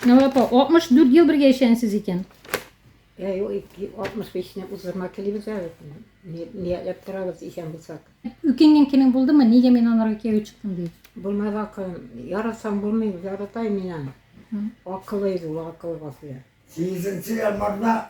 Нәвә апа, 64 ел бергә яшәгәнсез икән. Ә юк, 65-не уздырма телибез әле. Ниятләп торабыз исән булсак. Үкенгән көнең булдымы? Нигә мин анарга кияүгә чыктым дип? Булмады акылым. Яратсаң булмый, ярата мин аны. Акыллы иде ул, акыллы Гафуя. Сигезенче январьда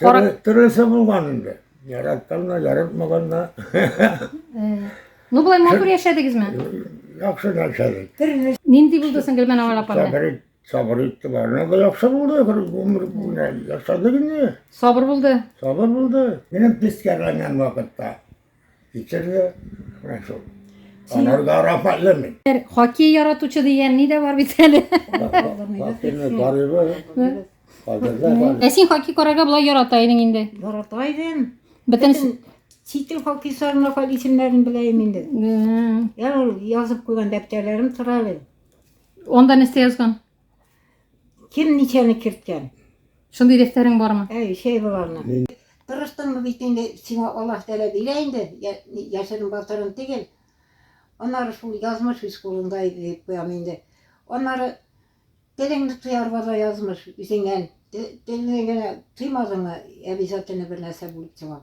Харак... Тырысы булган инде. Яратканна, яратмаганна. Ну, былай матур яшәдегезме? Яхшы яшәдек. Төрле. Нинди булды соң Гөлмән авыл апа белән? Сабыр, сабыр итте барына да яхшы булды. Гомер буена яшәдек инде. Сабыр булды. Сабыр булды. Минем тискәреләнгән вакытта. Китерде. Менә шул. Анар да Рафаэль мин. Бер хоккей яратучы дигән ни дә бар бит әле. Хоккейны карыйбыз. Кадерле бар. Ә син хоккей карарга болай ярата идең инде. Ярата идем. Бөтен Бөтен Читил хоккейчыларның Рафаэль исемнәрен беләем инде. М, Я ул язып куйган дәптәрләрем тора әле. Анда нәрсә язган? Кем ничәне керткән? Шундый дәфтәрең бармы? Әй, шәй боларны. Тырыштыңмы бит инде, сиңа Аллаһ Тәгалә бирә инде, яшерен батырын түгел. Аннары шул язмыш үз кулыңда иде дип куям инде. Аннары телеңне тоярга да язмыш үзеңнән. Телеңне генә тыймадыңмы, обязательно бер нәрсә булып чыга.